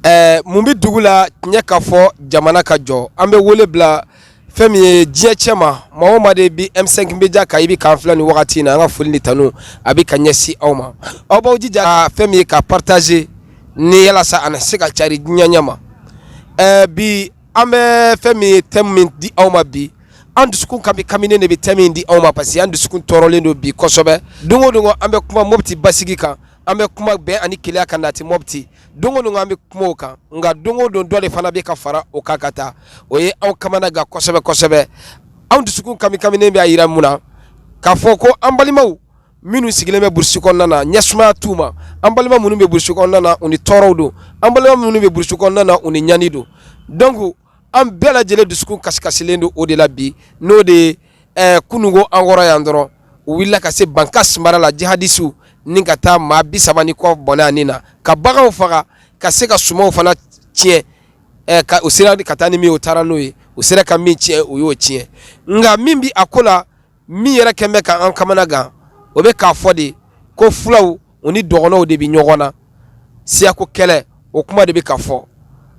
Ɛɛ mun bɛ dugu la tiɲɛ ka fɔ jamana ka jɔ an bɛ wele bila fɛn min ye diɲɛ cɛ ma maa o maa de bɛ M5 Media kan i bɛ k'an filɛ nin wagati in na an ka foli ni tanu a bɛ ka ɲɛsin aw ma aw b'aw jija ka fɛn min ye ka partager ni yalasa a na se ka cari diɲɛ ɲɛ ma ɛɛ bi An bɛ fɛn min ye thème min di aw ma bi an dusukun kamikaminen de bɛ thème min di aw ma parce que an dusukun tɔɔrɔlen don bi kosɛbɛ don o don an bɛ kuma Mɔpti basigi kan an bɛ kuma bɛn ani kelenya ka nati Mɔpti don o don an bɛ kuma o kan nka don o don dɔ de fana bɛ ka fara o kan ka taa o ye aw kamana gan kosɛbɛ kosɛbɛ anw dusukun kamikaminen bɛ a jira mun na k'a fɔ ko an balimaw minnu sigilen bɛ burusi kɔnɔna na ɲɛ sumaya t'u ma an balima minnu bɛ burusi kɔnɔna na u ni tɔɔrɔ don an balima minnu bɛ burusi kɔnɔna na u ni ɲani don donc an bɛɛ lajɛlen dusukun kasikasilen don o de la bi n'o de ye ɛɛ kununko an kɔrɔ yan dɔrɔn u wulila ka se Bankass mara la jihadisiw ni ka taa maa bi saba ni kɔ bɔnɛ a ni na ka baganw faga ka se ka sumanw fana tiɲɛ ɛɛ ka u sera ka taa ni min ye u taara n'o ye u sera ka min tiɲɛ u y'o tiɲɛ nka min bɛ a ko la min yɛrɛ kɛlen bɛ k'an kamana gan o bɛ k'a fɔ de ko fulaw u ni dɔgɔnɔw de bɛ ɲɔgɔn na siyako kɛlɛ o kuma de bɛ ka fɔ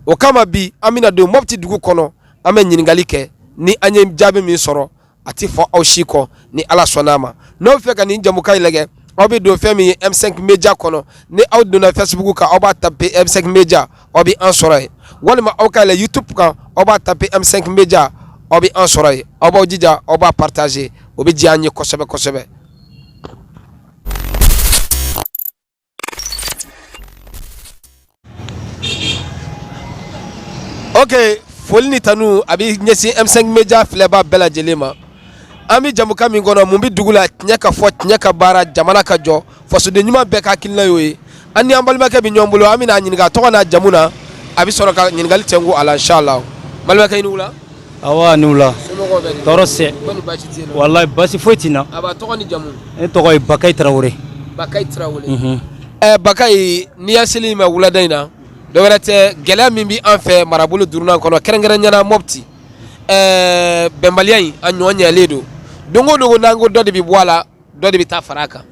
o kama bi an bɛna don Mɔpti dugu kɔnɔ an bɛ ɲininkali kɛ ni an ye jaabi min sɔrɔ a tɛ fɔ aw si kɔ ni ala sɔnna a ma n'aw fɛ ka nin jamukan in lajɛ aw bɛ don fɛn min ye M5 Media kɔnɔ ni aw donna Facebook kan aw b'a taper M5 Media aw bɛ an sɔrɔ yen walima aw ka yɛlɛ youtube kan aw b'a taper M5 Media aw bɛ an sɔrɔ yen aw b'aw jija aw b'a partager o bɛ diya an ye kosɛbɛ kosɛbɛ. ok foli ni tanu a bɛ ɲɛsin M5 Media filɛbaa bɛɛ lajɛlen ma an bɛ jamukan min kɔnɔ mun bɛ dugu la tiɲɛ ka fɔ tiɲɛ ka baara jamana ka jɔ. fasoden ɲuman bɛɛ ka hakilina y'o ye an ni an balimakɛ bɛ ɲɔgɔn bolo an bɛna a ɲininka a tɔgɔ n'a jamu na a bɛ sɔrɔ ka ɲininkali tɛnku a la inchallah balimakɛ i ni wula awa ni wula somɔgɔw bɛ di tɔɔrɔ sɛ kɔni baasi t'i la walayi basi foyi tɛ n na a b'a tɔgɔ ni jamu ne tɔgɔ ye bakayi tarawele Bakayi Tarawele Mhm. ɛ Bakayi n'i y'a sel'i ma wulada in na dɔ wɛrɛ tɛ gɛlɛya min bɛ an fɛ marabolo duurunan kɔnɔ kɛrɛnkɛrɛnyana Mɔpti ɛɛ bɛnbaliya in a ɲɔgɔn ɲɛlen don don o don ko n'an ko dɔ de bɛ bɔ a la dɔ de bɛ taa fara a kan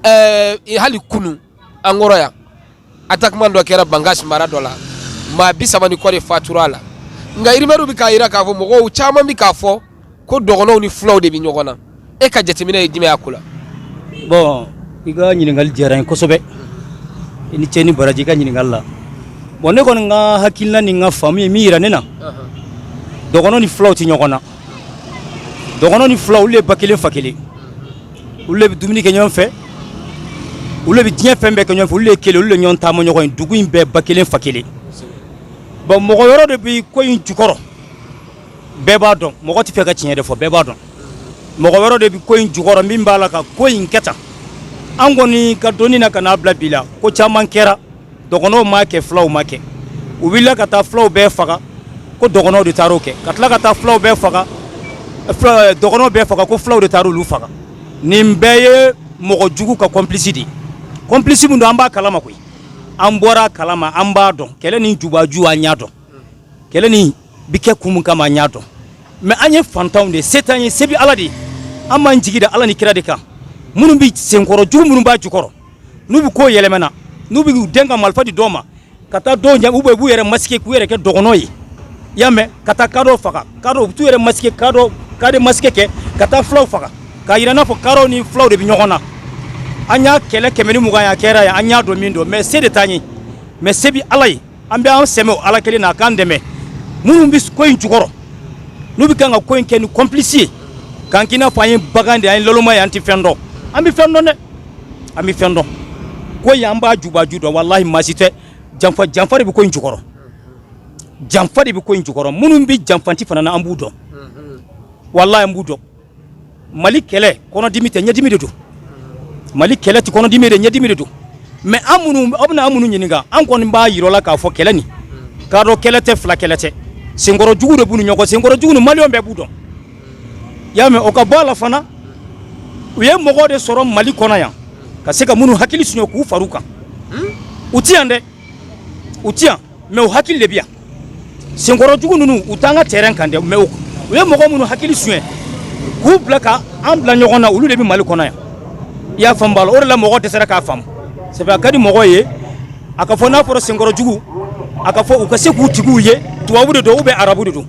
ɛɛ hali kunu an kɔrɔ yan attaquement dɔ kɛra Bankass mara dɔ la maa bi saba ni kɔ de fatura a la nka rumeurs bɛ k'a jira k'a fɔ mɔgɔw caman bɛ k'a fɔ ko dɔgɔnɔw ni fulaw de bɛ ɲɔgɔn na e ka jateminɛ ye jumɛn y'a ko la. bon i ka ɲininkali diyara n ye kosɛbɛ i ni cɛ ni baraji i ka ɲininkali la bon ne kɔni ka hakilina ni n ka faamu ye min yira ne na dɔgɔnɔ ni fulaw tɛ ɲɔgɔn na. dɔgɔnɔ ni fula olu le ye ba kelen fa kelen olu le bɛ dumuni kɛ ɲɔgɔn fɛ olu le bɛ diɲɛ fɛn bɛɛ kɛ ɲɔgɔn fɛ olu le ye kelen olu le ɲɔgɔn taama ɲɔgɔn ye dugu in bɛɛ ba kelen fa kelen bon mɔgɔ wɛrɛ de bɛ ko in jukɔrɔ bɛɛ b'a dɔn mɔgɔ tɛ fɛ ka tiɲɛ de fɔ bɛɛ b'a dɔn mɔgɔ wɛrɛ de bɛ ko in jukɔrɔ min b'a la ka ko in kɛ tan an kɔni ka dɔnni na ka n'a bila bi la ko caman kɛra dɔgɔnɔw m'a kɛ fulaw m'a kɛ u wulila ka taa fulaw bɛɛ faga ko dɔgɔnɔw de taar'o kɛ ka tila ka taa fulaw bɛɛ faga eh, dɔgɔnɔw bɛɛ faga ko fulaw de taara olu faga nin bɛɛ ye mɔgɔ jugu ka complice de ye complice min don an b'a kalama ko in an bɔr'a kalama an b'a dɔn kɛlɛ nin jubaju an y'a dɔn kɛlɛ nin bi kɛ kun min kama an y'a dɔn mais an ye fantanw de ye se t'an ye se bi ala de ye an b'an jigi da ala ni kira de kan minnu bɛ senkɔrɔ jugu minnu b'a jukɔrɔ n'u bɛ ko yɛlɛma na n'u bɛ u den ka marifa di dɔw ma ka taa dɔw ɲɛ u bɛ b'u yɛrɛ masquer k'u yɛrɛ kɛ dɔgɔnɔ ye i y'a mɛn ka taa kadɔw faga kadɔ u bɛ t'u yɛrɛ masquer kadɔ kadi masque kɛ ka taa fulaw faga k'a yira n'a fɔ kadɔw ni fulaw de bɛ ɲɔgɔn na an y'a kɛlɛ kɛmɛ ni mugan y'a kɛra yan an y'a dɔn min don mais se de t'an ye mais se bɛ ala ye an bɛ an sɛmɛ o ala kelen na a k'an dɛmɛ minnu bɛ ko in jukɔrɔ n'u bɛ kan ka ko in kɛ ni complice ye k'an k'i n'a fɔ an ye bagan de an ye laloma ye an tɛ fɛn dɔn an bɛ fɛn dɔn dɛ an bɛ fɛn dɔn ko in an b'a jubaju dɔn walahi maa si tɛ janfa janfa de bɛ ko in jukɔrɔ janfa de bɛ ko in jukɔrɔ minnu bɛ janfanti fana na an b'u dɔn walahi an b'u dɔn mali kɛlɛ kɔnɔdimi tɛ ɲɛdimi de don mali kɛlɛ tɛ kɔnɔdimi dɛ ɲɛdimi de don mais an minnu aw bɛna an minnu ɲininka an kɔni b'a yir'aw la k'a fɔ kɛlɛ nin kadɔ kɛlɛ tɛ fula kɛlɛ tɛ senkɔrɔ jugu de b'u ni ɲɔgɔn senkɔrɔ jugu nin maliyɛnw bɛɛ b'u dɔn i y'a mɛn o ka bɔ a la fana u ye mɔgɔ de sɔrɔ mali kɔnɔ yan ka se ka minnu hakili suɲɛ k'u far'u kan u ti yan dɛ u ti yan mais u hakili de bi yan senkɔrɔ jugu ninnu u t'an ka terrain kan dɛ mais u ye mɔgɔ minnu hakili suɲɛ k'u bila ka an bila ɲɔgɔn na olu de bɛ mali kɔnɔ yan i y'a faamu b'a la o de la mɔgɔ dɛsɛra k'a faamu c'est vrai a ka di mɔgɔ ye a ka fɔ n'a fɔra senkɔrɔ jugu a ka fɔ u ka se k'u tigiw ye tubabu de don ou bien arabu de don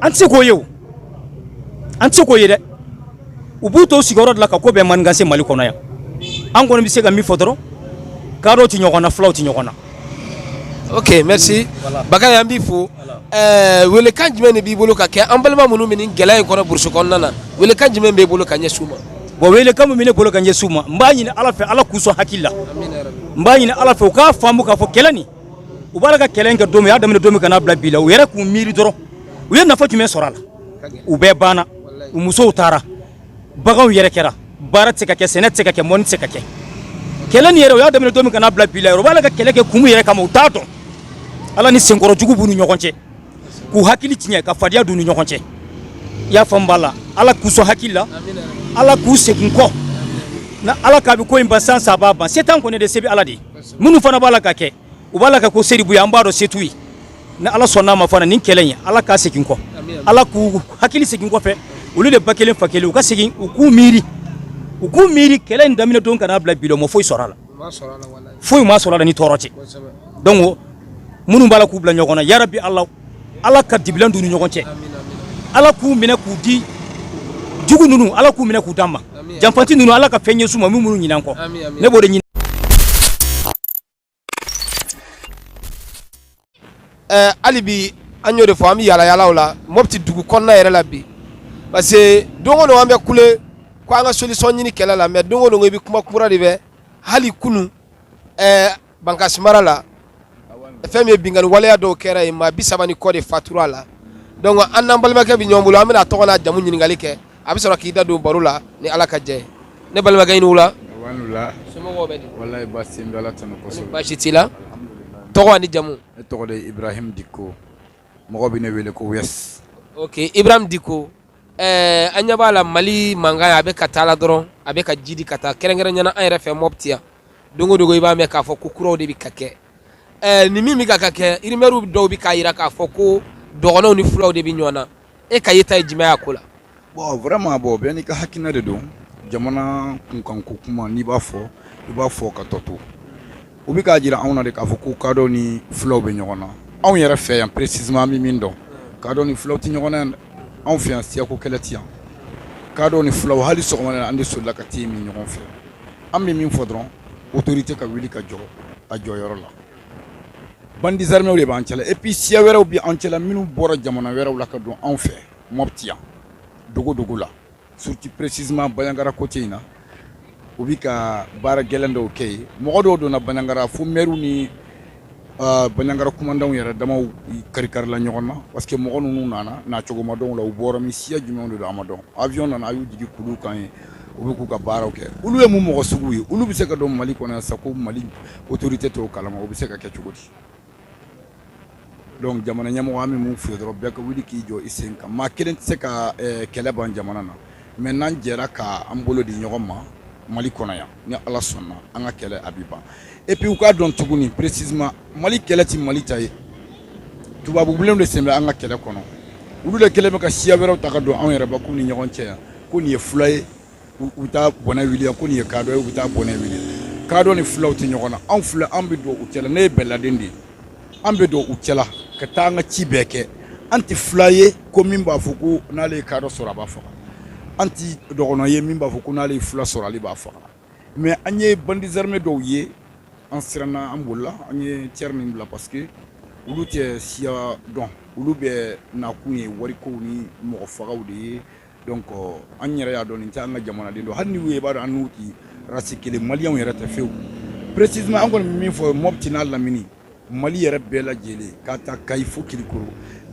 an tɛ se k'o ye o an tɛ se k'o ye dɛ u b'u to sigiyɔrɔ de la ka ko bɛɛ manigancer mali kɔnɔ yan an kɔni bɛ se ka min fɔ dɔrɔn kadɔw tɛ ɲɔgɔn na fulaw tɛ ɲɔgɔn na Ok merci Bakari an b'i fo weelekan jumɛn de b'i bolo ka kɛ an balima minnu bɛ nin gɛlɛya in kɔnɔ burusi kɔnɔna na weelekan jumɛn b'i bolo ka ɲɛsin u ma bon weelekan min bɛ ne bolo ka ɲɛsin u ma n b'a ɲini ala fɛ ala k'u sɔn hakili la n b'a ɲini ala fɛ u k'a faamu k'a fɔ kɛlɛ nin u b'a la ka kɛlɛ in kɛ don min u y'a daminɛ don min ka n'a bila bi la u yɛrɛ k'u miiri dɔrɔn u ye nafa jumɛn sɔrɔ a la u bɛɛ banna u musow taara baganw yɛrɛ kɛra baara tɛ ka kɛ sɛnɛ tɛ ka kɛ mɔni tɛ ka kɛ kɛlɛ nin yɛrɛ u y'a daminɛ don min ka n'a bila bi la yɛrɛ u b'a la ka kɛlɛ kɛ kun yɛrɛ kama u t'a dɔn ala ni senkɔrɔ jugu b'u ni ɲɔgɔn cɛ k'u hakili tiɲɛ ka fadenya d'u ni ɲɔgɔn cɛ i y'a faamu b'a la ala k'u sɔn hakili la ala k'u segin kɔ na ala k'a bɛ ko in ban san saba ban se t'an kɔni de se bɛ ala de ye minnu fana b'a la ka kɛ u b'a la ka ko se de b'u ye an b'a dɔn se t'u ye ni ala sɔnn'a ma fana nin kɛlɛ in ala k'a segin kɔ ala k'u hakili segin kɔfɛ olu de ba kelen fa kelen u ka segin u k'u miiri u k'u miiri kɛlɛ in daminɛ don ka n'a bila bi la u ma foyi sɔrɔ a la foyi ma sɔrɔ a la ni tɔɔrɔ tɛ donc minnu b'a la k'u bila ɲɔgɔn na yarabi ala ala ka dibilan d'u ni ɲɔgɔn cɛ ala k'u minɛ k'u di jugu ninnu ala k'u minɛ k'u d'an ma janfanti ninnu ala ka fɛn ɲɛsin u ma min b'u ɲinɛ an kɔ ne b'o de ɲini ɛɛ hali bi an y'o de fɔ an bɛ yaalayaalaw la mɔpti dugu kɔnɔna yɛrɛ la bi parce que don o don an bɛ kule ko an ka solution ɲini kɛlɛ la mais don o don i bɛ kuma kura de mɛn hali kunun ɛɛ bankasi mara la fɛn min ye binkanni waleya dɔw kɛra yen maa bi saba ni kɔ de fatura a la donc an n'an balimakɛ bɛ ɲɔgɔn bolo an bɛna a tɔgɔ n'a jamu ɲininkali kɛ a bɛ sɔrɔ k'i da don baro la ni ala ka jɛ ne balimakɛ i ni wula baasi t'i la tɔgɔ ni jamu ne tɔgɔ ibrahim diko mɔgɔ bɛ ne wele ko ibrahim diko ɛɛ an ɲɛ b'a la mali mankan a bɛ ka taa la dɔrɔn a bɛ ka jidi ka taa kɛrɛnkɛrɛnya na an yɛrɛ fɛ mɔti yan don o don i b'a mɛn k'a fɔ ko kuraw de bɛ ka kɛ ɛɛ ni min bɛ ka ka kɛ rumeurs dɔw bɛ k'a jira k'a fɔ ko dɔgɔnɔw ni fulaw de bɛ ɲɔgɔn na e ka yeta ye jumɛn y'a ko la bon vraiment bon bɛɛ n'i ka hakilina de don jamana kunkan ko kuma n'i b'a fɔ i b'a fɔ ka tɔ to u bɛ k'a jira anw na de k'a fɔ ko kadɔ ni fulaw bɛ ɲɔgɔn na anw yɛrɛ fɛ yan précisément an bɛ min dɔn kadɔ ni fulaw tɛ ɲɔgɔn na yan anw fɛ yan siyako kɛlɛ tɛ yan kadɔ ni fulaw hali sɔgɔma an de solila ka te min ɲɔgɔn fɛ an bɛ min fɔ dɔrɔn autorité ka wuli ka jɔ a jɔyɔrɔ la bandits armés de b'an cɛla et puis siya wɛrɛw bɛ an cɛla minnu bɔra jamana wɛrɛw la ka don anw fɛ mɔti yan dogodogo la surtout précisément bandiagara côté in na u bɛ ka baara gɛlɛn dɔw kɛ yen mɔgɔ dɔw donna bandiagara fo maires ni ah, bandiagara kumandanw yɛrɛ damaw karikarila ɲɔgɔn na parce que mɔgɔ ninnu nana nacogoya dɔ la u bɔra min siya jumɛn de don a ma dɔn avion nana a y'u jigin kulu kan yen u bɛ k'u ka baaraw kɛ olu ye mun mɔgɔ sugu ye olu bɛ se ka don mali kɔnɔ yan sans que mali autorité t'o kalama o bɛ se ka kɛ cogo di donc jamana ɲɛmɔgɔ an bɛ min f'i ye dɔrɔn bɛɛ ka wuli k'i jɔ i sen kan maa kelen tɛ se ka kɛlɛ ban jamana na mais n'an jɛra k'an bolo di ɲɔgɔn ma mali kɔnɔ yan ni ala sɔnna an ka kɛlɛ a bɛ ban et puis u k'a dɔn tuguni précisément mali kɛlɛ tɛ mali ta ye tubabu bilenw de sen bɛ an ka kɛlɛ kɔnɔ olu de kɛlen bɛ ka siya wɛrɛw ta ka don anw yɛrɛbakun ni ɲɔgɔn cɛ yan ko nin ye fula ye u bɛ taa bɔnɛ wuli ko nin ye kadɔ ye u bɛ taa bɔnɛ wuli kadɔ ni fulaw tɛ ɲɔgɔn na anw filɛ an bɛ don u cɛla ne ye bɛɛladen de ye an bɛ don u cɛla ka taa an ka ci bɛɛ kɛ an tɛ fula ye ko min b'a fɔ ko n'ale ye kadɔ sɔrɔ a b'a faga an tɛ dɔgɔnɔ ye min b'a fɔ ko n'ale ye fula sɔrɔ ale b'a faga mais an ye bandits armés dɔw ye an siranna an bolila an ye cɛ min bila parce que olu tɛ siya dɔn olu bɛ nakun ye warikow ni mɔgɔ fagaw de ye donc an yɛrɛ y'a dɔn nin tɛ an ka jamanaden don hali ni u ye i b'a dɔn an n'u ti race kelen maliyɛnw yɛrɛ tɛ fewu précisément an kɔni bɛ min fɔ mɔpti n'a lamini mali yɛrɛ bɛɛ lajɛlen k'a ta kayi fo kirikoro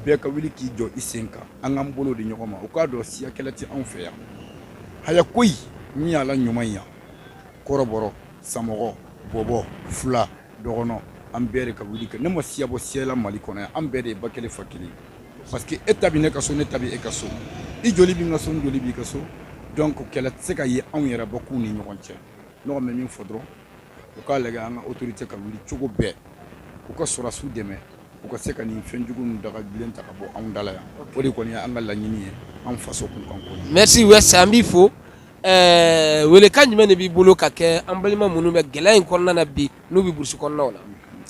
bɛɛ ka wuli k'i jɔ i sen kan an k'an bolo di ɲɔgɔn ma u k'a dɔn siya kɛlɛ tɛ anw fɛ yan haya koyi min y'a la ɲuman yan kɔrɔbɔrɔ samɔgɔ bɔbɔ fula dɔgɔnɔ an bɛɛ de ka wuli kɛ ne ma siya bɔ siya la mali kɔnɔ yan an bɛɛ de ye ba kelen fa kelen Parce que e ta bɛ ne ka so ne ta bɛ e ka so i joli bɛ n ka so n joli b'i ka so donc kɛlɛ tɛ se ka ye anw yɛrɛbakun ni ɲɔgɔn cɛ ne kɔni bɛ min fɔ dɔrɔn u k'a lajɛ an ka autorité ka wuli cogo bɛɛ u ka sɔrɔdasiw dɛmɛ u ka se ka nin fɛn jugu ninnu dagabilen ta ka bɔ anw da la yan o de kɔni ye an ka laɲini ye an faso kunkan ko la. Merci West an b'i fo ɛɛ welekan jumɛn de b'i bolo ka kɛ an balima minnu bɛ gɛlɛya in kɔnɔna na bi n'u bɛ burusi kɔnɔnaw la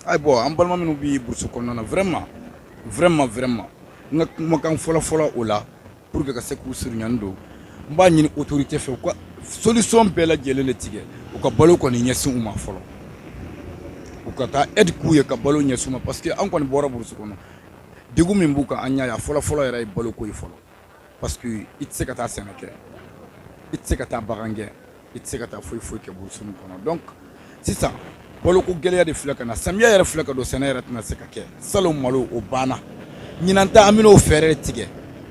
ayi bon an balima minnu bɛ burusi kɔnɔna na vraiment vraiment vraiment n ka kumakan fɔlɔfɔlɔ o la pour que ka se k'u surunyani don n b'a ɲini autorité fɛ u ka solution bɛɛ lajɛlen de tigɛ u ka balo kɔni ɲɛsin u ma fɔlɔ u ka taa aide k'u ye ka balo ɲɛsin u ma parce que an kɔni bɔra burusi kɔnɔ degun min b'u kan an y'a ye a fɔlɔfɔlɔ yɛrɛ ye baloko ye fɔlɔ Parce que i tɛ se ka taa sɛnɛ kɛ i tɛ se ka taa bagan gɛn i tɛ se ka taa foyi foyi kɛ burusi nin kɔnɔ donc sisan balo ko gɛlɛya de filɛ ka na samiya yɛrɛ filɛ ka don sɛnɛ yɛrɛ tɛna se ka kɛ salon malo o banna ɲinan ta an bɛn'o fɛɛrɛ tigɛ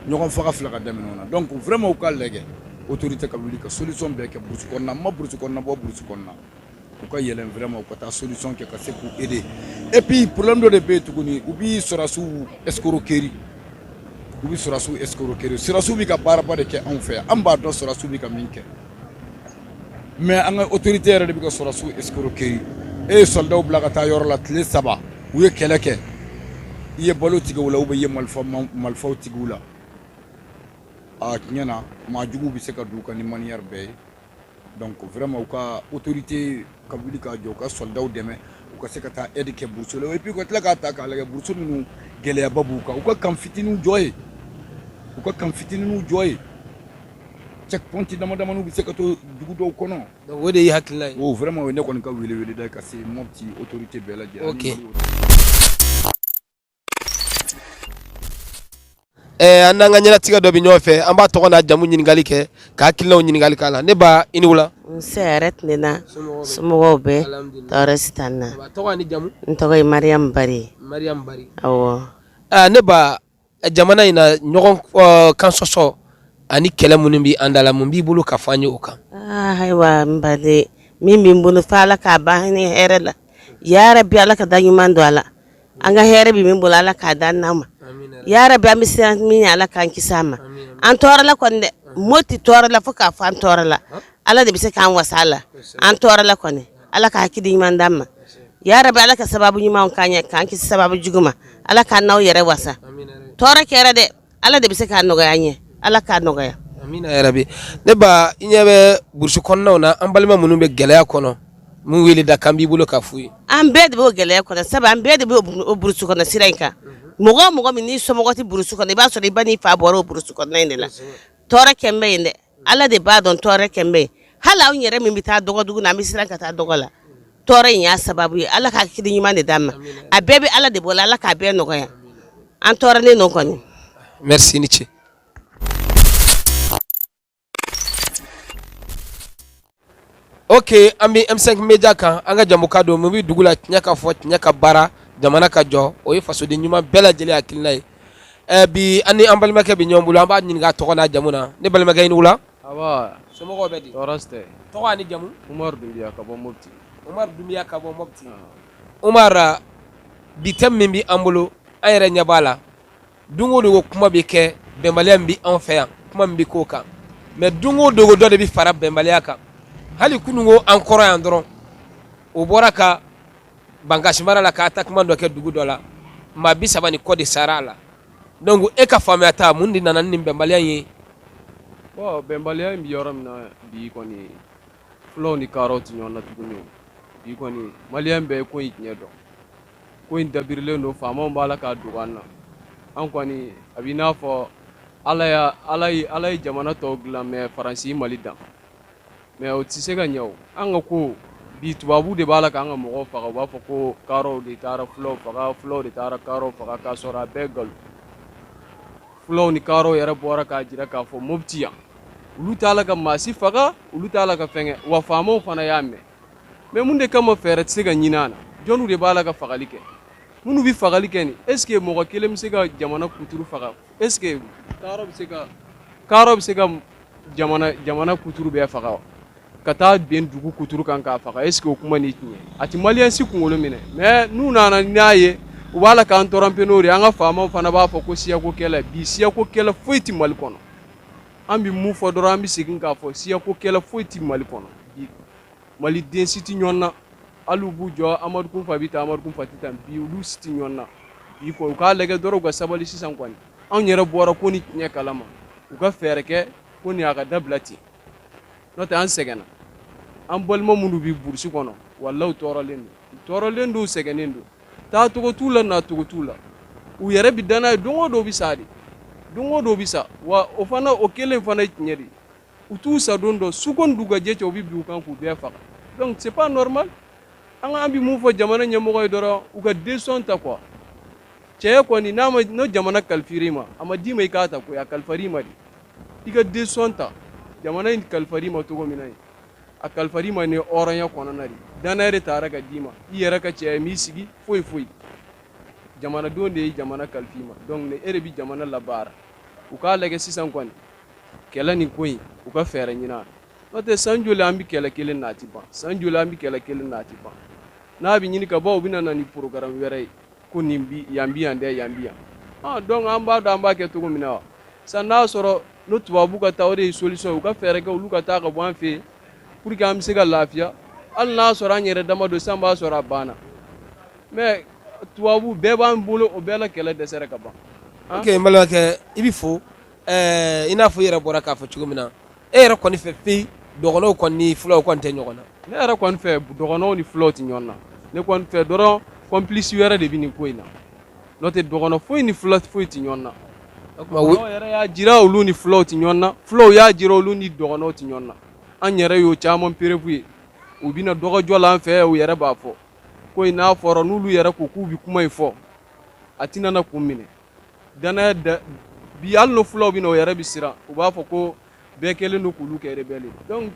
ɲɔgɔn faga filɛ ka daminɛ o na donc vraiment u ka lajɛ autorité ka wuli ka solution bɛɛ kɛ burusi kɔnɔ na ma burusi kɔnɔ na bɔ burusi kɔnɔ na u ka yɛlɛn vraiment u ka taa solution kɛ ka se k'u aider et puis problème dɔ de bɛ yen tuguni u bi sɔrɔdasiw escroquerie u bi sɔrɔdasiw escroquerie sɔrɔdasiw bɛ ka baaraba de kɛ anw fɛ yan an b'a dɔn sɔrɔdasiw bɛ ka min kɛ mais an ka autorité yɛrɛ de bɛ ka sɔrɔdasiw escroquerie e ye soldat bila ka taa yɔrɔ la tile saba u ye kɛlɛ kɛ i ye balo tigɛ u la ou bien i ye malifaw tigɛ u la a tiɲɛna maa juguw bɛ se ka don u kan ni manière bɛɛ ye Donc vraiment u ka autorité ka wuli ka jɔ u ka soldats dɛmɛ u ka se ka taa aide kɛ brousse la et puis u ka tila k'a ta k'a lajɛ brousse ninnu gɛlɛyaba b'u kan u ka camp fitiniw jɔ yen u ka camp fitiniw jɔ yen checkpoint dama damaniw bɛ se ka to dugu dɔw kɔnɔ donc o de y'i hakilila ye o vraiment o ye ne kɔni ka wele wele da ye ka se Mopti autorité bɛɛ lajɛlen ok An n'an ka ɲɛnatigɛ dɔ bɛ ɲɔgɔn fɛ an b'a tɔgɔ n'a jamu ɲininkali kɛ k'a hakilinaw ɲininkali k'a la ne ba i ni wula nse hɛrɛ tilenna somɔgɔw bɛ tɔɔrɔ si t'an na tɔgɔ ni jamu n tɔgɔ ye mariyamu bari awɔ ne ba jamana in na ɲɔgɔn kan sɔsɔ ani kɛlɛ minnu bɛ an da la mun b'i bolo ka fɔ an ye o kan ayiwa n baden min bɛ n bolo fo ala k'a ban hɛrɛ la yarabi ala ka da ɲuman don a la an ka hɛrɛ bɛ min bolo ala k'a d'an ma yarabi an bɛ siran min ɲɛ ala k'an kisi a ma an tɔɔrɔla kɔni dɛ moti tɔɔrɔla fo k'a fɔ an tɔɔrɔla ala de bɛ se k'an wasa a la an tɔɔrɔla kɔni ala ka hakili ɲuman d'an ma yarabi ala ka sababu ɲuman k'an ɲɛ k'an kisi sababu jugu ma ala k'an n'aw yɛrɛ wasa tɔɔrɔ kɛra dɛ ala de bɛ se k'a nɔgɔya an ye ala k'a nɔgɔya amina yarabi ne ba i ɲɛ bɛ burusi kɔnɔnaw na an balima minnu bɛ gɛlɛya kɔnɔ mun wele da kan b'i bolo ka f'u ye an bɛɛ de b'o gɛlɛya kɔnɔ sabu an bɛɛ de bɛ burusi kɔnɔ sira in kan mɔgɔ o mɔgɔ min n'i somɔgɔ tɛ burusi kɔnɔ i b'a sɔrɔ i ba n'i fa bɔra o burusi kɔnɔna in de la tɔɔrɔ kɔni bɛ yen dɛ Ala de b'a dɔn tɔɔrɔ kɔni bɛ yen hali anw yɛrɛ min bɛ taa dɔgɔdugu na an bɛ siran ka taa dɔgɔ la tɔɔrɔ in y'a sababu ye ala ka hakili ɲuman de d'an ma a bɛɛ bɛ ala de bolo ala k'a bɛɛ nɔgɔya an tɔɔrɔlen don kɔni i ni ce oke an bɛ M5 média kan an ka jamu ka don mun bɛ dugu la tiɲɛ ka fɔ tiɲɛ ka baara jamana ka jɔ o ye fasoden ɲuman bɛɛ lajɛlen hakilina ye ɛ bi an ni an balimakɛ bɛ ɲɔgɔn bolo an b'a ɲininka tɔgɔ n'a jamu na ne balimakɛ i ni wula somɔgɔw bɛ di tɔɔrɔ si tɛ tɔgɔ ni jamu Umaru Dunbiya ka bɔ Mopti Umaru bi thème min bɛ an bolo an yɛrɛ ɲɛ b'a la Don o don kuma bɛ kɛ bɛnbaliya min bɛ anw fɛ yan kuma bɛ k'o kan mais don o don dɔ de bɛ fara bɛnbaliya kan hali kunun ko an kɔrɔ yan dɔrɔn o bɔra ka Bankasi mara la ka attaquement dɔ kɛ dugu dɔ la maa bi saba ni kɔ de sara a la donc e ka faamuya ta mun de nana ni bɛnbaliya ye bon bɛnbaliya in bɛ yɔrɔ min na bi kɔni fulaw ni kadɔw tɛ ɲɔgɔn na tuguni bi kɔni maliyɛn bɛɛ ye ko in tiɲɛ dɔn ko in dabirilen don faamaw b'a la k'a dogo an na an kɔni a b'i n'a fɔ ala y'a ala ye ala ye jamana tɔw dilan mais faransi mali dan mais o tɛ se ka ɲɛ o an ka ko bi tubabu de b'a la k'an ka mɔgɔw faga u b'a fɔ ko kaaraw de taara fulaw faga fulaw de taara kaaraw faga k'a sɔrɔ a bɛɛ nkalon fulaw ni kaaraw yɛrɛ bɔra k'a jira k'a fɔ mopti yan olu t'a la ka maa si faga olu t'a la ka fɛn kɛ wa faamaw fana y'a mɛn mais mun de kama fɛɛrɛ tɛ se ka ɲini a la jɔniw de b'a la ka fagali kɛ minnu bɛ fagali kɛ nin est ce que mɔgɔ kelen bɛ se ka jamana kuturu faga est ce que kaarɔ bɛ se ka kaarɔ bɛ se ka jamana jamana kuturu bɛɛ faga wa ka taa bin dugu kuturu kan k'a faga est ce que o kuma ni tiɲɛ a tɛ maliyɛn si kunkolo minɛ mais n'u nana n'a ye u b'a la k'an tromper n'o de ye an ka faamaw fana b'a fɔ ko siyako kɛlɛ bi siyako kɛlɛ foyi tɛ mali kɔnɔ an bɛ mun fɔ dɔrɔn an bɛ segin k'a fɔ siyako kɛlɛ foyi tɛ mali kɔnɔ bi maliden si tɛ ɲɔgɔn na hali u b'u jɔ amadu kunfa bɛ tan amadu kunfa tɛ tan bi olu si tɛ ɲɔgɔn na bi u k'a lajɛ dɔrɔn u ka sabali sisan kɔni anw yɛrɛ bɔra ko nin tiɲɛ kala ma u ka fɛɛrɛ kɛ ko nin a ka dabila ten n'o tɛ an sɛgɛnna an balima minnu bɛ burusi kɔnɔ walahi u tɔɔrɔlen don u tɔɔrɔlen don u sɛgɛnnen don taa cogo t'u la na cogo t'u la u yɛrɛ bɛ danna ye don o don bɛ sa de don o don bɛ sa wa o fana o kelen fana ye tiɲɛ de ye u t'u sadon dɔn su ko ni dugujɛ cɛ u bɛ bin u kan k'u bɛɛ faga donc c'est pas normal an k'an bɛ mun fɔ jamana ɲɛmɔgɔ ye dɔrɔn u ka décision ta quoi cɛ kɔni n'a ma n'o jamana kalifar'i ma a ma d'i ma i k'a ta koyi a kalifar'i ma de i ka décision ta jamana in kalifar'i ma cogo min na ye a kalifar'i ma ni hɔrɔnya kɔnɔna de dannaya de taara ka d'i ma i yɛrɛ ka cɛya m'i sigi foyi foyi jamanadenw de ye jamana kalif'i ma donc ne e de bɛ jamana labaara u k'a lajɛ sisan kɔni kɛlɛ nin ko in u ka fɛɛrɛ ɲini a la n'o tɛ san joli an bɛ kɛlɛ kelen na a tɛ ban san joli an bɛ kɛlɛ kelen na a tɛ ban n'a bɛ ɲini ka ban u bɛna na ni programme wɛrɛ ye ko nin bi yan bi yan dɛ yan bi yan ah donc an b'a dɔn an b'a kɛ cogo min na wa sisan n'a sɔrɔ n'o tubabu ka taa o de ye solution u ka fɛɛrɛ kɛ olu ka taa ka bɔ an fɛ pour que an bɛ se ka lafiya hali n'a sɔrɔ an yɛrɛ dama don san b'a sɔrɔ a banna mais tubabu bɛɛ b'an bolo o bɛɛ la kɛlɛ dɛsɛra ka ban. ok n balimakɛ i bɛ fo ɛɛ i n'a fɔ i yɛrɛ bɔra k'a fɔ cogo min na e yɛrɛ kɔni fɛ peyi dɔgɔnɔw kɔni ni fulaw kɔni tɛ ɲɔgɔn na. ne yɛrɛ kɔni fɛ dɔgɔnɔw ni fulaw tɛ ɲɔgɔn na ne kɔni fɛ dɔrɔn complice wɛrɛ de bɛ nin ko in na. n'o tɛ dɔgɔnɔ foyi ni fula foyi tɛ ɲɔgɔn na u yɛrɛ y'a jira olu ni fulaw tɛ ɲɔgɔn na fulaw y'a jira olu ni dɔgɔnɔw tɛ ɲɔgɔn na an yɛrɛ y'o caman preuve ye u bɛ na dɔgɔjɔ la an fɛ u yɛrɛ b'a fɔ ko in n'a fɔra n'olu yɛrɛ ko k'u bɛ kuma in fɔ a tɛna na kun minɛ dannaya bi hali n'o fulaw bɛ na u yɛrɛ bɛ siran u b'a fɔ ko bɛɛ kɛlen don k'olu kɛ rebelle ye donc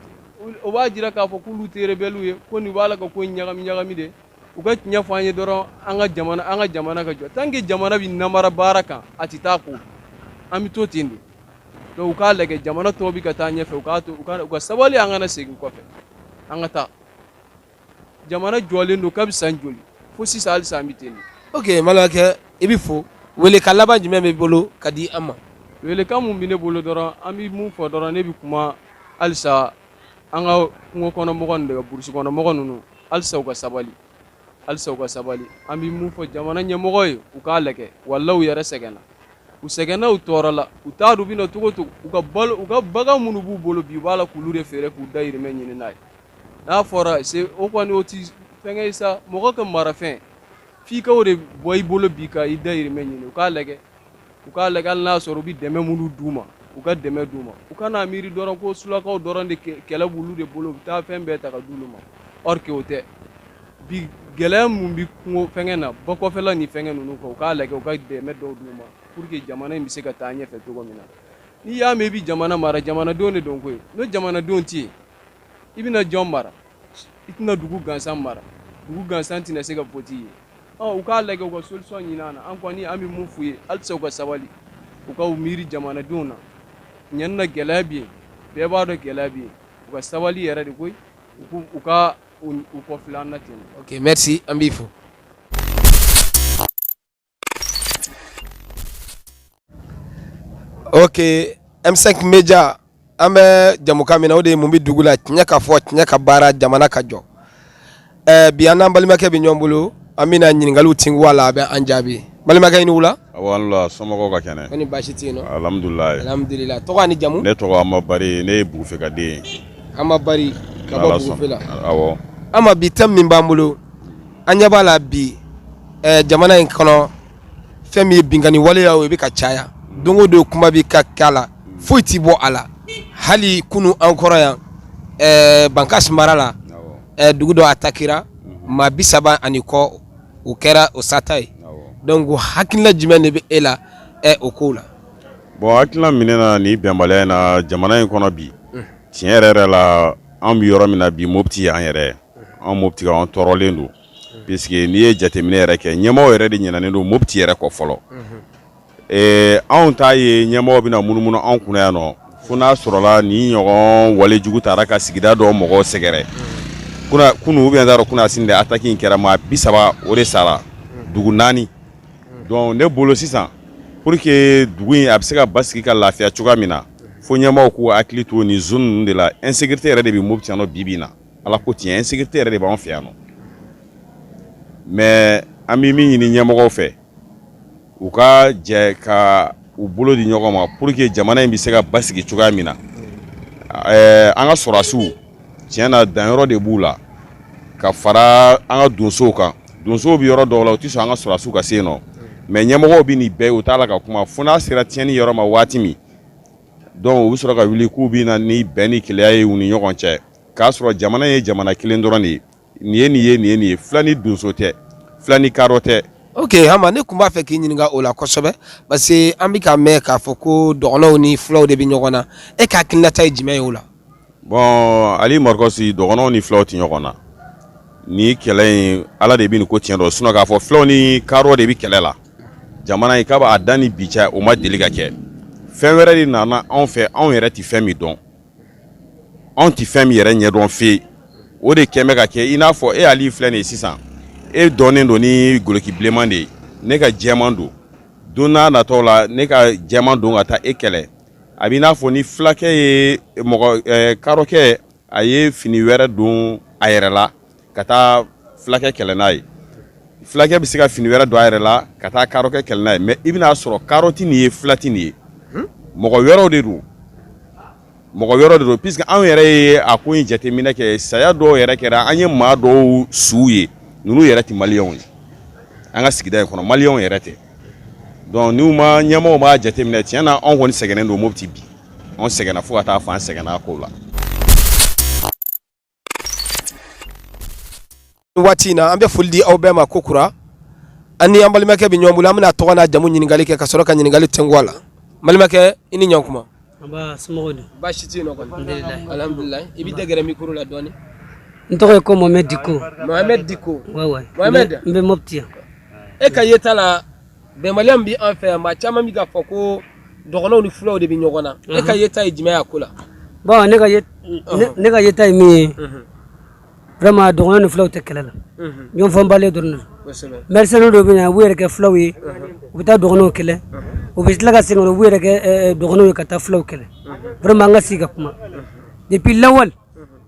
o b'a jira k'a fɔ k'olu tɛ rebelle ye ko nin b'a la ka ko in ɲagami ɲagami de u ka tiɲɛ fɔ an ye dɔrɔn an ka jamana an ka jamana ka jɔ tant que jamana bɛ namara baara kan a tɛ taa ko an bɛ to ten de donc u k'a lajɛ jamana tɔw bɛ ka taa ɲɛfɛ u k'a to u ka u ka sabali an kana segin kɔfɛ an ka taa jamana jɔlen don kabi san joli fo sisan halisa an bɛ ten ok balimakɛ i bɛ fo welekan laban jumɛn b'i bolo ka di an ma welekan mun bɛ ne bolo dɔrɔn an bɛ mun fɔ dɔrɔn ne bɛ kuma halisa an ka kungo kɔnɔmɔgɔ ninnu de kan burusi kɔnɔmɔgɔ ninnu halisa u ka sabali halisa u ka sabali an bɛ mun fɔ jamana ɲɛmɔgɔ ye u k'a lajɛ walahi u yɛrɛ sɛgɛnna u sɛgɛnna u tɔɔrɔla u t'a dɔn u bɛ na cogo o cogo u ka balo u ka bagan minnu b'u bolo bi u b'a la k'olu de feere k'u dayirimɛ ɲini n'a ye n'a fɔra o kɔni o tɛ fɛnkɛ ye sa mɔgɔ ka marafɛn f'i ka o de bɔ i bolo bi ka i dayirimɛ ɲini u k'a lajɛ u k'a lajɛ hali n'a sɔrɔ u bɛ dɛmɛ minnu d'u ma u ka dɛmɛ d'u ma u kana miiri dɔrɔn ko sulakaw dɔrɔn de kɛlɛ b'olu de bolo u bɛ taa fɛn bɛɛ ta ka d'olu ma or que o tɛ bi gɛlɛya mun bɛ kungo fɛnkɛ na ba kɔfɛla ni fɛnkɛ ninnu kan u k'a lajɛ u ka dɛmɛ dɔw d'u ma pour que jamana in bɛ se ka taa ɲɛfɛ cogo min na n'i y'a mɛn i bɛ jamana mara jamanadenw de don koyi n'o jamanadenw tɛ yen i bɛna jɔn mara i tɛna dugu gansan mara dugu gansan tɛna se ka wote i ye u k'a lajɛ u ka solution ɲini an na an kɔni an bɛ mun f'u ye halisa u ka sabali u ka miiri jamanadenw na ɲani na gɛlɛya bɛ yen bɛɛ b'a dɔn gɛlɛya bɛ yen u ka sabali yɛrɛ de koyi u ka u kɔfilɛ an na ten merci an b'i fo ok M5 Media an bɛ jɛmukan min na o de ye mun bɛ dugu la tiɲɛ ka fɔ tiɲɛ ka baara jamana ka jɔ bi an n'an balimakɛ bɛ ɲɔgɔn bolo an bɛna ɲininkaliw tingu a la a bɛ an jaabi balimakɛ i ni wula somɔgɔw ka kɛnɛ ni baasi tɛ yen alhamdulilayi tɔgɔ ni jamu ne tɔgɔ Ama Bari ne ye Bugufe ka den ye Ama bi thème min b'an bolo an ɲɛ b'a la bi jamana in kɔnɔ fɛn min ye binkanni waleya ye o bɛ ka caya don o don kuma bɛ ka k'a la foyi tɛ bɔ a la hali kunun an kɔrɔ yan bankasi mara la dugu dɔ atakira maa bi saba ani kɔ o kɛra o sata ye donc hakilila jumɛn de bɛ e la o kow la bon hakilila min na nin bɛnbaliya in na jamana in kɔnɔ bi tiɲɛ yɛrɛ yɛrɛ la an bɛ yɔrɔ min na bi moti an yɛrɛ an Mɔputi an tɔɔrɔlen don puisque n'i ye jateminɛ yɛrɛ kɛ ɲɛmɔgɔ yɛrɛ de ɲinɛnen don Mɔputi yɛrɛ kɔ fɔlɔ anw t'a ye ɲɛmɔgɔ bɛna munumunu anw kunna yan nɔ fo n'a sɔrɔla nin ɲɔgɔn walejugu taara ka sigida dɔ mɔgɔ sɛgɛrɛ kunun ou bien kunasini attaque in kɛra maa bi saba o de sara dugu naani donc ne bolo sisan pour que dugu in a bɛ se ka basigi ka lafiya cogoya min na fo ɲɛmɔgɔw k'u hakili to nin zone ninnu de la insécurité yɛrɛ de bɛ Mɔputi yan bi bi na Ala ko tiɲɛ insécurité yɛrɛ de b'an fɛ yan nɔ mais an bɛ min ɲini ɲɛmɔgɔw fɛ u ka jɛ ka u bolo di ɲɔgɔn ma pour que jamana in bɛ se ka basigi cogoya min na an ka sɔrɔsiw tiɲɛ na danyɔrɔ de b'u la ka fara an ka donsow kan donsow bɛ yɔrɔ dɔw la u tɛ sɔn an ka sɔrɔsiw ka se yen nɔ mais ɲɛmɔgɔw bɛ nin bɛɛ u t'a la ka kuma fo n'a sera tiɲɛni yɔrɔ ma waati min donc u bɛ sɔrɔ ka wuli k'u bɛ na ni bɛn ni kelenya ye u ni ɲɔgɔn cɛ k'a sɔrɔ jamana ye jamana kelen dɔrɔn de ye nin ye nin ye nin ye nin ye fula ni donso tɛ fula ni karɔ tɛ ok Hama ne tun b'a fɛ k'i ɲininka o la kosɛbɛ parce que an bɛ ka mɛn k'a fɔ ko dɔgɔnɔw ni fulaw de bɛ ɲɔgɔn na e ka hakilinata ye jumɛn ye o la bon Ali Marikosi dɔgɔnɔw ni fulaw tɛ ɲɔgɔn na nin kɛlɛ in ala de bɛ nin ko tiɲɛ dɔn sinon k'a fɔ fulaw ni karɔ de bɛ kɛlɛ la jamana in kab'a da ni bi cɛ o ma deli ka kɛ fɛn wɛrɛ de nana anw fɛ anw yɛrɛ tɛ fɛn min dɔn anw tɛ fɛn min yɛrɛ ɲɛdɔn fewu o de kɛlen bɛ ka kɛ i n'a fɔ e Ali filɛ nin ye sisan e dɔnnen don ni goloki bilenman de ye ne ka jɛman don don n'a natɔ la ne ka jɛman don ka taa e kɛlɛ a b'i n'a fɔ ni fulakɛ ye mɔgɔ karɔkɛ a ye fini wɛrɛ don a yɛrɛ la ka taa fulakɛ kɛlɛ n'a ye fulakɛ bɛ se ka fini wɛrɛ don a yɛrɛ la ka taa karɔkɛ kɛlɛ n'a ye mais i bɛn'a sɔrɔ karɔ tɛ nin ye fula tɛ nin ye hmm? mɔgɔ wɛrɛw de don mɔgɔ wɛrɛw de don puisque anw yɛrɛ ye a ko in jateminɛ kɛ saya dɔw yɛrɛ kɛra an ye maa dɔw suw ye ninnu yɛrɛ tɛ maliyɛnw ye an ka sigida in kɔnɔ maliyɛnw yɛrɛ tɛ donc n'u ma ɲɛmɔgɔw b'a jateminɛ tiɲɛ na anw kɔni sɛgɛnnen don Mɔputi bi anw sɛgɛnna fo ka taa fɔ an sɛgɛnna ko la waati in na an bɛ foli di aw bɛɛ ma kokura an ni an balimakɛ bɛ ɲɔgɔn bolo an bɛn'a tɔgɔ n'a jamu ɲininkali kɛ ka sɔrɔ ka ɲininkali tɛnku a la balimakɛ i ni ɲankuma baasi tɛ yen nɔ kɔni alihamudulila i bɛ gɛrɛ mikoro la dɔɔni n tɔgɔ ye ko Mohamɛdi Diko Mohamɛdi Diko n bɛ Mɔputi yan e ka yeta la bɛnbaliya min bɛ an fɛ yan maa caman bɛ k'a fɔ ko dɔgɔnɔw ni fulaw de bɛ ɲɔgɔn na e ka yeta ye jumɛn y'a ko la bon ne ka ye ne- ne ka yeta ye min ye vraiment dɔgɔnɔ ni fulaw tɛ kɛlɛ la ɲɔgɔnfaamubaliya dɔrɔn de don kosɛbɛ mercenaire dɔw bɛ na u b'u yɛrɛ kɛ fulaw ye u bɛ taa dɔgɔnɔw kɛlɛ u bɛ tila ka segin ka na u b'u yɛrɛ kɛ eh, eh, dɔgɔnɔw ye ka taa fulaw kɛlɛ vraiment an ka sigi ka kuma depuis lawal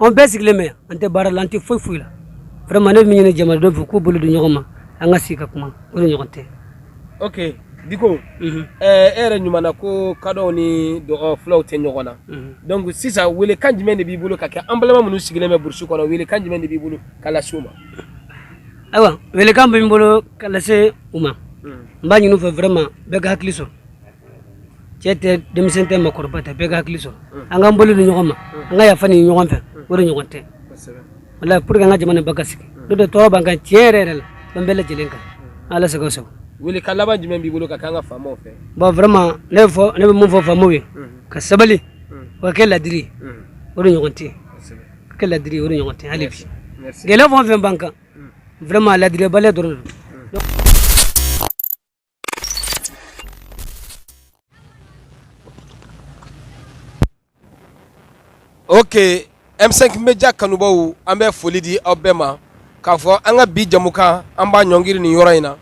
an bɛɛ sigilen bɛ an tɛ baara la an tɛ foyi foyi la vraiment ne bɛ min ɲini jamanadenw fɛ k'u bolo di ɲɔgɔn ma an ka sigi ka kuma o de ɲɔgɔn tɛ ok diko mhm. eh, e yɛrɛ ɲuman na ko kadɔw ni dɔgɔ fulaw tɛ ɲɔgɔn na mhm. donc sisan wele kan jumɛn de b'i bolo ka kɛ an balima minnu sigilen bɛ burusi kɔnɔ wele kan jumɛn de b'i bolo ka lase u ma ayiwa wele kan bɛ n bolo ka lase u ma mhm. n b'a ɲini u fɛ vraiment bɛɛ ka hakili sɔrɔ cɛ tɛ denmisɛn tɛ makɔrɔba tɛ bɛɛ ka hakili sɔrɔ an k'an bolo di ɲɔgɔn ma an ka yafa ɲini ɲɔgɔn fɛ o de ɲɔgɔn tɛ wala pour que an ka jamana ba ka sigi n'o tɛ tɔɔrɔ b'an kan tiɲɛ yɛrɛ yɛrɛ la an bɛɛ lajɛlen kan ala sago sago wele kan laban jumɛn b'i bolo ka k'an ka faamaw fɛ bon vraiment ne bɛ fɔ ne bɛ mun fɔ faamaw ye ka sabali u ka kɛ ladiri o de ɲɔgɔn tɛ ka kɛ ladiri o de ɲɔgɔn tɛ hali bi gɛlɛya fɛn o fɛn b'an kan vraiment ladiribaliya dɔrɔn de don Ok M5 Media kanubaw an bɛ foli di aw bɛɛ ma k'a fɔ an ka bi jamukan an b'a ɲɔngiri nin yɔrɔ in na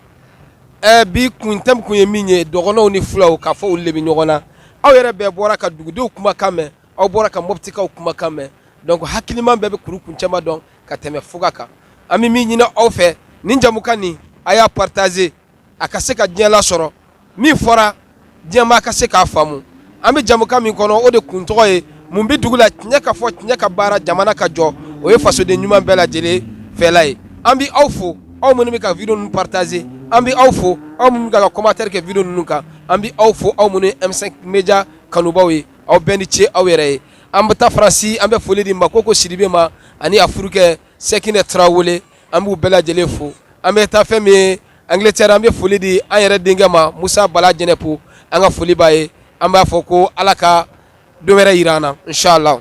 ɛ bi kun thème kun ye min ye dɔgɔnɔw ni filaw k'a fɔ olu de bɛ ɲɔgɔn na aw yɛrɛ bɛɛ bɔra ka dugudenw kumakan mɛn aw bɔra ka mɔptikaw kumakan mɛn donc hakiliman bɛɛ bɛ kuru kun cɛma dɔn ka tɛmɛ fuga kan an bɛ min ɲini aw fɛ nin jamukan nin a y'a partager a ka se ka diɲɛ lasɔrɔ min fɔra diɲɛmaa ka se k'a faamu an bɛ jamukan min kɔnɔ o de kun tɔgɔ ye mun bɛ dugu la tiɲɛ ka fɔ tiɲɛ ka baara jamana ka jɔ o ye fasoden ɲuman bɛɛ lajɛlen fɛla ye an bɛ aw fo aw minnu bɛ ka video ninnu partager an bɛ aw fo aw minnu bɛ ka commentaire kɛ video ninnu kan an bɛ aw fo aw minnu ye M5 Media kanubaw ye aw bɛɛ ni ce aw yɛrɛ ye an bɛ taa faransi an bɛ foli di makoko sidibe ma ani a furukɛ sɛkinɛ tarawele an b'u bɛɛ lajɛlen fo an bɛ taa fɛn min ye angleterre an bɛ foli di an yɛrɛ denkɛ ma musa bala jɛnɛpo an ka foli b'a ye an b'a fɔ ko ala ka don wɛrɛ yira an na inshallah